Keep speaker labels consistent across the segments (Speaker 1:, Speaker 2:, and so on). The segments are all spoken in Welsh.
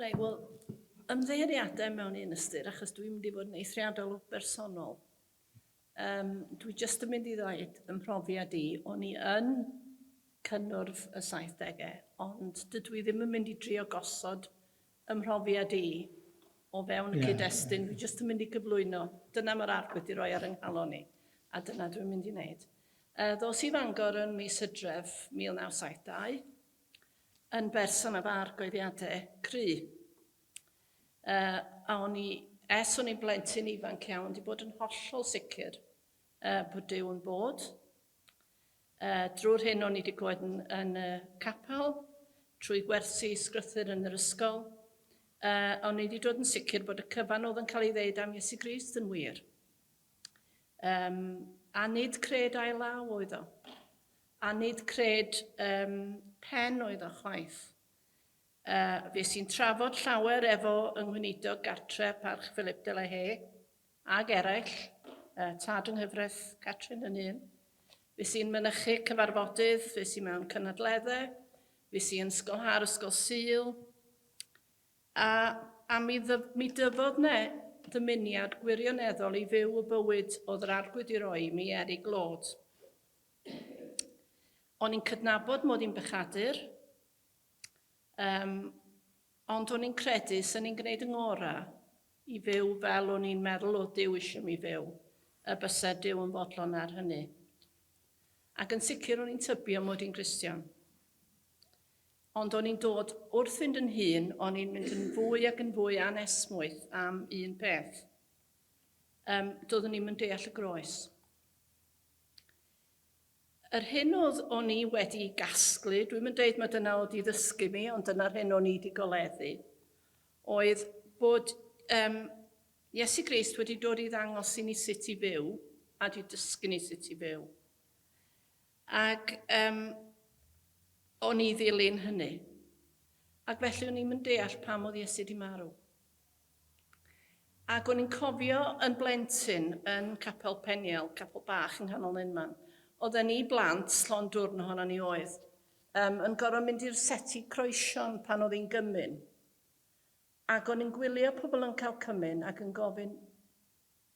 Speaker 1: Reit, wel, ymddeiriadau mewn un ystyr, achos dwi'n mynd i fod yn eithriadol o bersonol. Um, dwi jyst yn mynd i ddweud yn profiad i, o'n i yn cynnwrf y 70au, ond dydw i ddim yn mynd i drio gosod Fy mhrofiad i, o fewn y cyd-destun, dwi jyst yn mynd i gyflwyno, dyna mae'r ardd wedi rhoi ar 'y nghalon i, a dyna dwi'n mynd i wneud. Ddos i Fangor yn mis Hydref 1972, yn berson â pha argyhoeddiadau cry' a o'n i, ers o'n i'n blentyn ifanc iawn, 'di bod yn hollol sicr bod Duw'n bod. A drwy'r hyn o'n i wedi clywed yn yn y capel, trwy gwersi sgrythur yn yr ysgol, yy, o'n i wedi dod yn sicr bod y cyfan oedd yn cael ei ddeud am Iesu Grist yn wir. Yym, a nid cred ail law oedd o. A nid cred yym, pen oedd o chwaith. A fues i'n trafod llawer efo yng Nghweinidog Gartre Parch Philip de la Haye, ag eraill, y Tad yng Nghyfraith, Catrin yn un. Fues i'n mynychu cyfarfodydd, fues i mewn cynadledde, fues i yn ysgolha'r ysgol Sul, a, a mi, ddyf, mi dyfodd ne ddymuniad gwirioneddol i fyw y bywyd oedd yr arglwydd i roi i mi er i glod. O'n i'n cydnabod mod i'n bechadur, um, Ond o'n i'n credu swn i'n gwneud y ngora i fyw fel o'n i'n meddwl o'dd Duw isio mi fyw, y byse Duw yn fodlon ar hynny. Ac yn sicr o'n i'n tybio mod i'n Gristion. Ond o'n i'n dod wrth fynd yn hŷn o'n i'n mynd yn fwy ac yn fwy anesmwyth am un peth. Ym, doeddwn i'm yn deall y groes. Yr hyn oedd o'n i wedi gasglu, dwi'm yn deud ma dyna oedd i ddysgu mi, ond dyna'r hyn o'n i di goleddu, oedd bod um, Iesu Grist wedi dod i ddangos i ni sut i fyw, a di dysgu ni sut i fyw. Ac um, o'n i ddilyn hynny. Ac felly o'n i'm yn deall pam oedd Iesu di marw. Ac o'n i'n cofio yn blentyn yn Capel Peniel, capel bach yng nghanol Nenman, oedden ni blant, llond dwrn ohonon ni oedd, yym, yn gorfod mynd i'r seti croesion pan oedd hi'n gymun. Ac o'n i'n gwylio pobl yn cael cymun ac yn gofyn,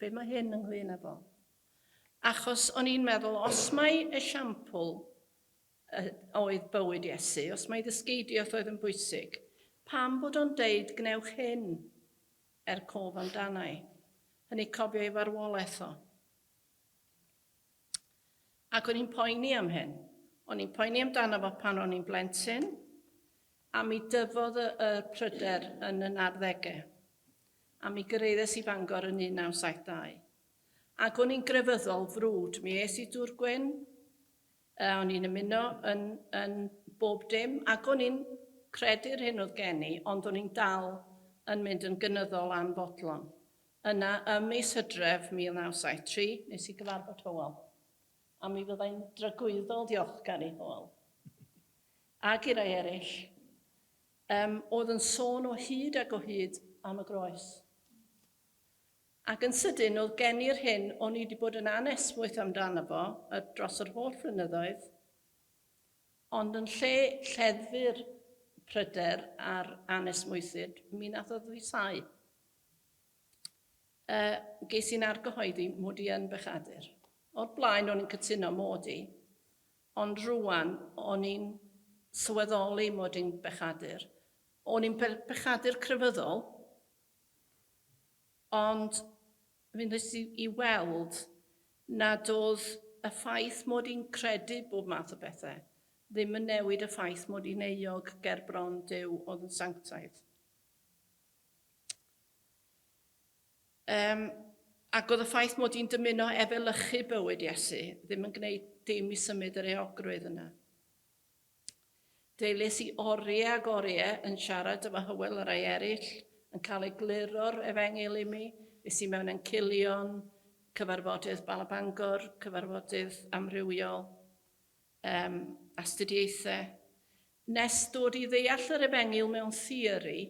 Speaker 1: be mae hyn ynglŷn â fo? Achos o'n i'n meddwl, os mae esiampl a oedd bywyd Iesu, os mai ddysgeidiaeth oedd yn bwysig, pam bod o'n deud gwnewch hyn er cof amdana i? Hynny cofio ei farwolaeth o. Ac o'n i'n poeni am hyn. O'n i'n poeni amdano fo pan o'n i'n blentyn, a mi dyfodd y, y pryder yn y narddegau. A mi gyraeddes i Fangor yn 1972. Ac o'n i'n grefyddol frwd. Mi es i Dŵr Gwyn, A o'n i'n ymuno yn, yn bob dim, ac o'n i'n credu'r hyn oedd gen i, ond o'n i'n dal yn mynd yn gynyddol am fodlon. Yna, ym mis Hydref 1973, nes i gyfarfod Hywel, a mi fydda i'n dragwyddol ddiolchgar i Hywel, ac i rai eraill, yym, oedd yn sôn o hyd ac o hyd am y groes. Ac yn sydyn oedd gen i'r hyn o'n i 'di bod yn anesmwyth amdano fo dros yr holl flynyddoedd, ond yn lle lleddfu'r pryder a'r anesmwythyd, mi nath o ddwysáu. Yy, ges i'n argyhoeddi 'mod i yn bechadur. O'r blaen o'n i'n cytuno 'mod i, ond rŵan o'n i'n sylweddoli 'mod i'n bechadur. O'n i'n bechadur crefyddol. Ond mi wnes i i weld nad oedd y ffaith mod i'n credu bob math o bethau ddim yn newid y ffaith mod i'n euog ger bron Duw oedd yn sanctaidd. Yym, ac oedd y ffaith mod i'n dymuno efelychu bywyd Iesu ddim yn gwneud dim i symud yr euogrwydd yna. Deilles i oriau ag oriau yn siarad efo Hywel a rai eraill, yn cael egluro'r Efengyl imi, es i mewn encilion, cyfarfodydd Bala Bangor, cyfarfodydd amrywiol, um, astudiaethau, nes dod i ddeall yr Efengyl mewn theori,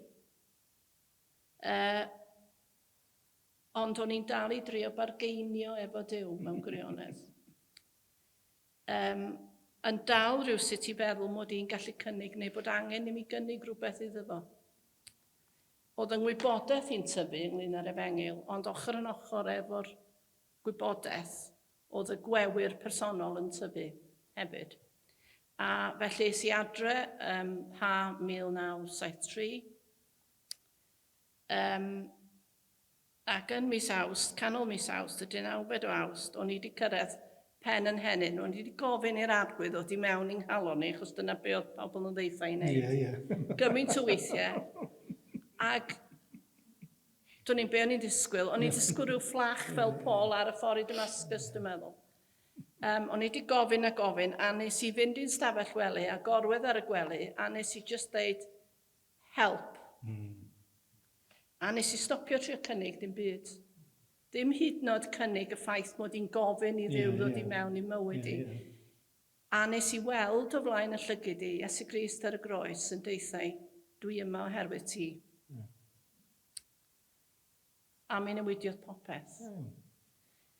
Speaker 1: uh, ond o'n i'n dal i drio bargeinio efo Duw mewn gwirionedd. Yym, yn dal rywsut i feddwl mod i'n gallu cynnig neu bod angen i mi gynnig rhywbeth iddo fo. O'dd yng ngwybodaeth i'n tyfu ynglŷn â'r Efengyl, ond ochr yn ochr efo'r gwybodaeth, o'dd y gwewyr personol yn tyfu hefyd. A felly es i adre ym Mha 1973. Yym. Ac yn mis Awst, canol mis Awst, y dynawfed o Awst, o'n i 'di cyrraedd pen 'y nhenyn, o'n i 'di gofyn i'r arglwydd ddod i mewn i'n nghalon ni, achos dyna be' o'dd pobl yn ddaetha i neud... Ie, ie. ...gymint o weithie, ag do'n i'n be' o'n i'n disgwyl, o'n i'n disgwyl ryw fflach fel Paul ar y ffor i Damascus, dwi'n meddwl. Yym, o'n i 'di gofyn a gofyn, a nes i fynd i'n stafell wely a gorwedd ar y gwely, a nes i jyst ddeud, Help. A nes i stopio trio cynnig dim byd. Dim hyd yn oed cynnig y ffaith mod i'n gofyn i Dduw ddod i mewn i'm mywyd i. A nes i weld o flaen y llygid i, Iesu Grist ar y groes, yn deuthau, Dwi yma oherwydd ti. A mi newidiodd popeth.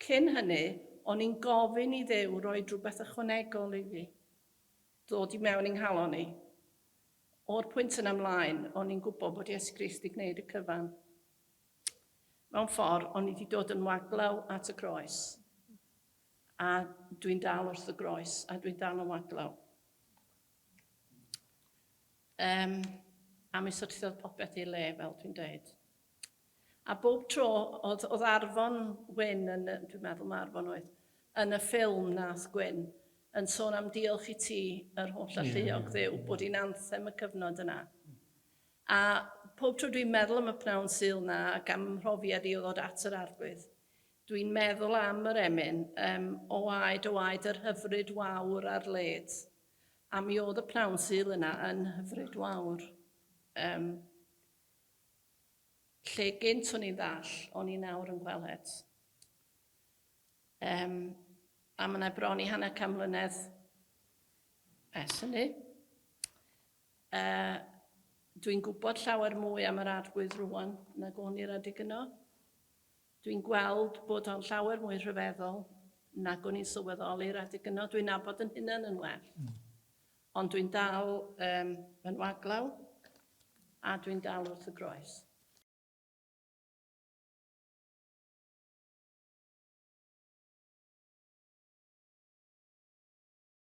Speaker 1: Cyn hynny, o'n i'n gofyn i Dduw roi rhywbeth ychwanegol i fi. Ddod i mewn i nghalon i. O'r pwynt yna ymlaen, o'n i'n gwybod bod Iesu Grist wedi gwneud y cyfan. Mewn ffordd, o'n i wedi dod yn waglaw at y groes. A dwi'n dal wrth y groes, a dwi'n dal yn waglaw. Um, a mi syrthiodd popeth i'r le, fel dwi'n dweud. A bob tro oedd, oedd Arfon Wyn yn, dwi'n meddwl mae Arfon oedd, yn y ffilm nath Gwyn, yn sôn am diolch i ti, yr holl alluog dduw, bod i'n anthem y cyfnod yna. A pob tro dwi'n meddwl am y pnawn Sul na, ac am mhrofiad i o ddod at yr arglwydd, dwi'n meddwl am yr emyn, um, o aed o aed yr hyfryd wawr ar led. A mi oedd y pnawn Sul yna yn hyfryd wawr. Um, Lle gynt o'n i'n ddall, o'n i nawr yn gweled. Yym, a ma' 'na bron i hanner can mlynedd ers hynny. Yy, dwi'n gwybod llawer mwy am yr Arglwydd rŵan nag o'n i'r adeg yno. Dwi'n gweld bod o'n llawer mwy rhyfeddol nag o'n i'n sylweddoli'r adeg yno. Dwi'n nabod yn hunan yn well. Ond dwi'n dal yn waglaw a dwi'n dal wrth y groes.